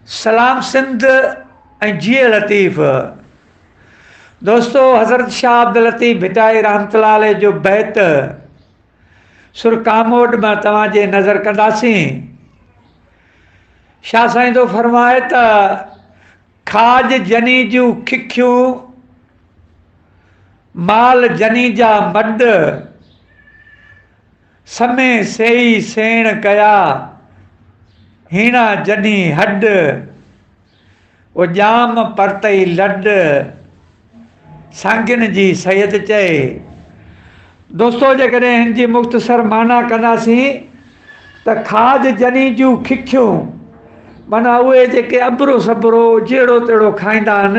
سلام سنڌ ۽ جيئي لطيف دوستو حضرت شاھ عبداللطيف ڀٽائي رحمت الله عليه جو بيت سر ڪاموٽ مان توهان جي نظر ڪنداسين شاھ سائين ٿو فرمائي ته کاج جني جون ککيون مال جني جا مڏ سمي سيئي سيڻ ڪيا، هيڻا جني هڏ، او ڄام پرتئي لڏ، سانگين جي سيد چئي. دوستو جيڪڏهن هن جي مختصر معنيٰ ڪنداسين ته کاڄ جني جون ککيون معنيٰ اهي جيڪي اٻرو سٻرو جهڙو تهڙو کائيندا آهن،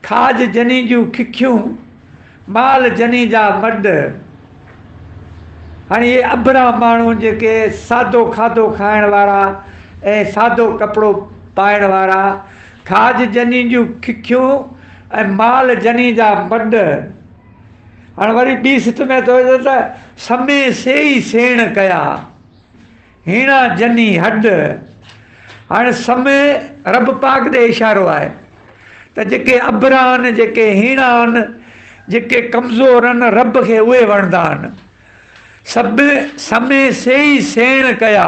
کاڄ جني جون ککيون، مال جني جا مڏ. هاڻي اهي اڀرا ماڻهو جيڪي سادو کاڌو کائڻ وارا ۽ سادو ڪپڙو پائڻ وارا، کاڄ جني جون ککيون ۽ مال جني جا مڏ. هاڻ وري ٻي سٽ ۾ اٿو ته سمي سيئي سيڻ ڪيا. هيڻا جني هڏ هاڻي سمي رب پاڪ ڏي اشارو آهي ته جيڪي ابرا آهن جيڪي هيڻا آهن جيڪي ڪمزور آهن رب کي اهي وڻندا آهن سڀ سمي سيئي سيڻ ڪيا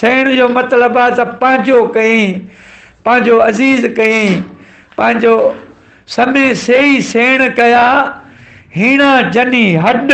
سيڻ جو مطلب آهي ته پنهنجو ڪيئين پنهنجو عزيز ڪيئين پنهنجو سمي سيئي سيڻ ڪيا هيڻا جني هڏ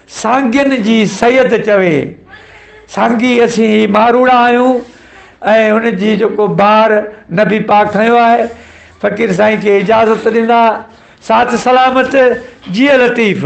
سانگين جي سيد چوي، سانگي اسين هي ماروئڙا آهيون ۽ ان جي جيڪو بار نبي پاڪ کنيو آهي، فقير سائين کي اجازت ڏنا، ساٿ سلامت، جيئي لطيف.